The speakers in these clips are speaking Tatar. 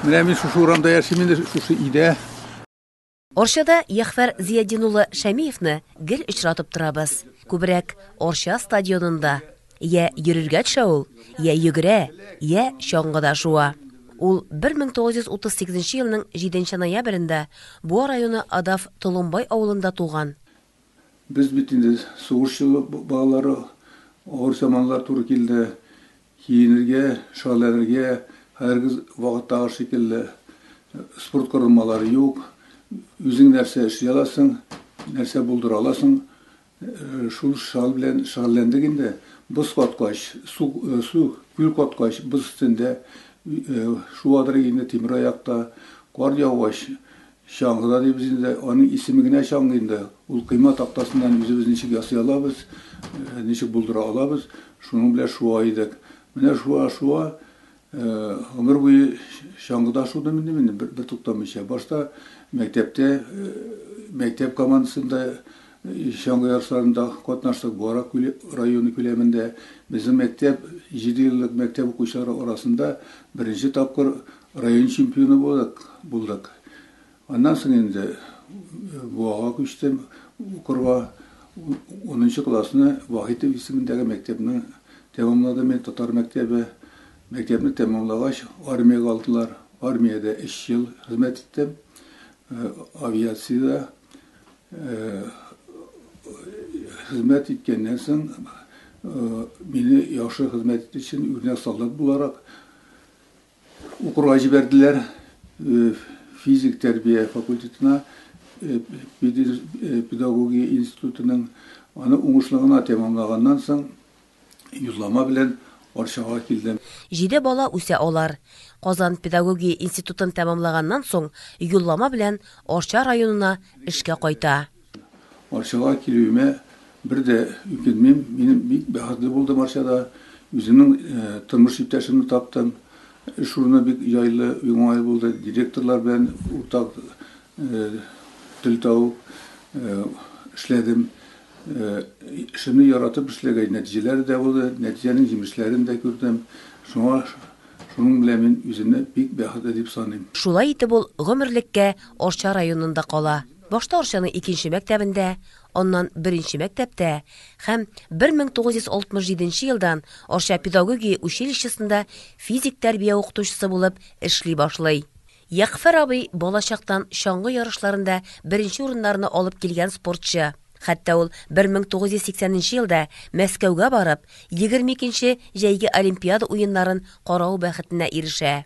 Менә мин шушы урамда яшим инде, шушы өйдә. Орчада Яхфәр Зиядин улы Шәмиевны гел очратып торабыз. Күбрәк Орча стадионында. Я йөрергә төшә ул, я йөгерә, я чаңгыда шуа. Ул 1938 елның 7 ноябрендә Буа районы Адав Толымбай авылында туган. Без бит инде сугышчы балалары, авыр заманнар туры килде. Киенергә, шәрләнергә хәзерге вакыттагы шикелле спорт корылмалары юк. Үзең нәрсә эшли аласың, нәрсә булдыра аласың, шул шәл белән шәрләндек инде. Боз каткач, су, су, күл каткач, боз өстендә шуадыр инде тимер аякта. Кар яугач, Чаңгы да дибез инде, аның исеме генә чаңгы инде. Ул койма тактасыннан үзебез ничек ясый алабыз, ничек булдыра алабыз, шуның белән шуа идек. Менә шуа-шуа, гомер буе чаңгыда шудым инде мин бертуктамыйча. Башта мәктәптә, мәктәп командасында чаңгы ярышларында катнаштык, Буара районы күләмендә. Безнең мәктәп, җидееллык мәктәп укучылары арасында беренче тапкыр Район чемпионы булдык, булдык. Аннан соң инде Буага күчтем укырга. Унынчы классны Вахитов исемендәге мәктәпне тәмамладым мин, татар мәктәбе. Мәктәпне тәмамлагач, армиягә алдылар. Армиядә өч ел хезмәт иттем. Авиациядә хезмәт иткәннән соң, мине яхшы хезмәт итү өчен үрнәк солдат буларак, Укырга җибәрделәр физик тәрбия факультетына, педагогия институтының. Аны уңышлы гына тәмамлаганнан соң, юллама белән Арчага килдем. Җиде бала үсә алар. Казан педагогия институтын тәмамлаганнан соң, юллама белән Арча районына эшкә кайта. Арчага килүемә бер дә үкенмим. Минем бик бәхетле булдым Арчада. Үземнең тормыш иптәшемне таптым. Эш урыны бик җайлы, уңай булды. Директорлар белән уртак тел табып эшләдем. Эшемне яратып эшләгәч, нәтиҗәләре дә булды. Нәтиҗәнең җимешләрен дә күрдем. Шуңа шуның белән мин үземне бик бәхетле дип саныйм. Шулай итеп ул гомерлеккә Арча районында кала. Башта Арчаның икенче мәктәбендә, аннан беренче мәктәптә һәм 1967 нче елдан Арча педагогия училищесында физик тәрбия укытучысы булып эшли башлый. Ягъфәр абый балачактан чаңгы ярышларында беренче урыннарны алып килгән спортчы. Хәтта ул 1980 нче елда Мәскәүгә барып, 22 нче Җәйге Олимпиада уеннарын карау бәхетенә ирешә.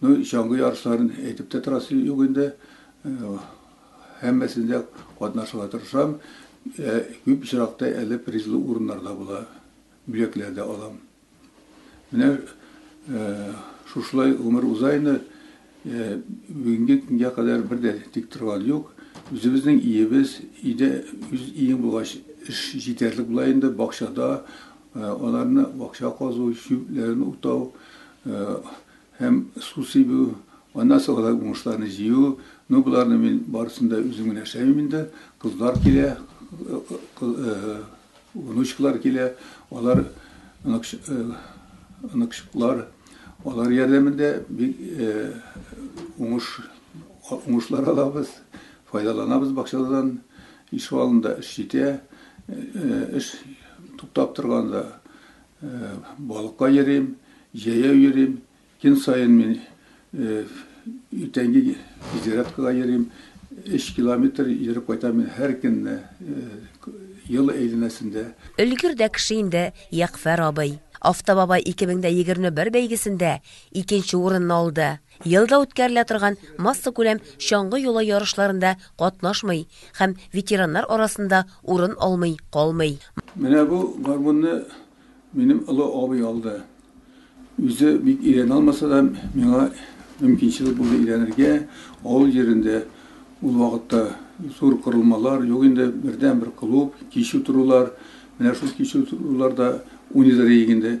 Ну чаңгы ярышларын әйтеп тә торасы юк инде. Һәммәсендә катнашырга тырышам. Күп очракта әле призлы урыннар да була, бүләкләр дә алам. Менә шушылай гомер уза инде. Бүгенге көнгә кадәр бер дә тик торган юк. Үзебезнең иебез, өйдә үз иең булгач, эш җитәрлек була инде. Бакчада аларны бакча казу, чүпләрен утау, Һәм су сибү, аннан соң алай уңышларны җыю, ну боларны мин барысын да үзем генә эшләмим инде, кызлар килә, внучкалар килә, алар оныкчыклар, алар ярдәмендә бик уңыш уңышлар алабыз, файдаланабыз бакчадан, ишегалдында эш җитә, эш туктап торганда, Балыкка йөрим, җәяү йөрим. Көн саен мин иртәнге зарядкага йөрим. Өч километр йөреп кайтам мин һәр көнне, ел әйләнәсендә. Өлгер дә кеше инде Ягъфәр абый. Автобабай 2021 бәйгесендә икенче урынны алды. Елда үткәрелә торган массакүләм чаңгы юлы ярышларында катнашмый һәм ветераннар арасында урын алмый калмый. Менә бу гармунны минем олы абый алды. Үзе бик өйрәнә алмаса да, миңа мөмкинчелек булды өйрәнергә. Авыл җирендә ул вакытта зур корылмалар юк инде, бердәнбер клуб, кич утырулар. Менә шул кич утыруларда уйныйдыр идек инде.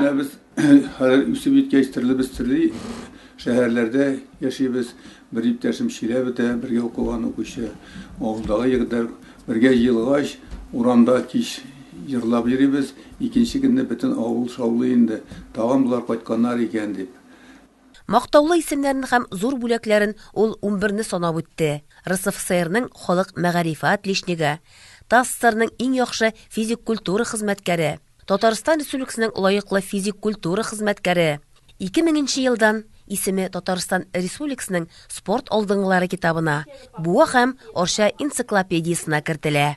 Менә без хәзер үсеп җиткәч, төрле без төрле шәһәрләрдә яшибез. Бер иптәшем Чиләбедә бергә укыган укучы, авылдагы егетләр бергә җыелгач, урамда кич җырлап йөрибез. Икенче көнне бөтен авыл шаулый инде, тагын болар кайтканнар икән дип. Мактаулы исемнәрен һәм зур бүләкләрен ул унберне санап үтте, РСФСРның халык мәгарифе отличнигы, ТАССРның иң яхшы физик культура хезмәткәре, Татарстан Республикасының лаеклы физик культура хезмәткәре, 2000 нче елдан исеме Татарстан Республикасының спорт алдынгылары китабына, Буа һәм Арча энциклопедиясенә кертелә.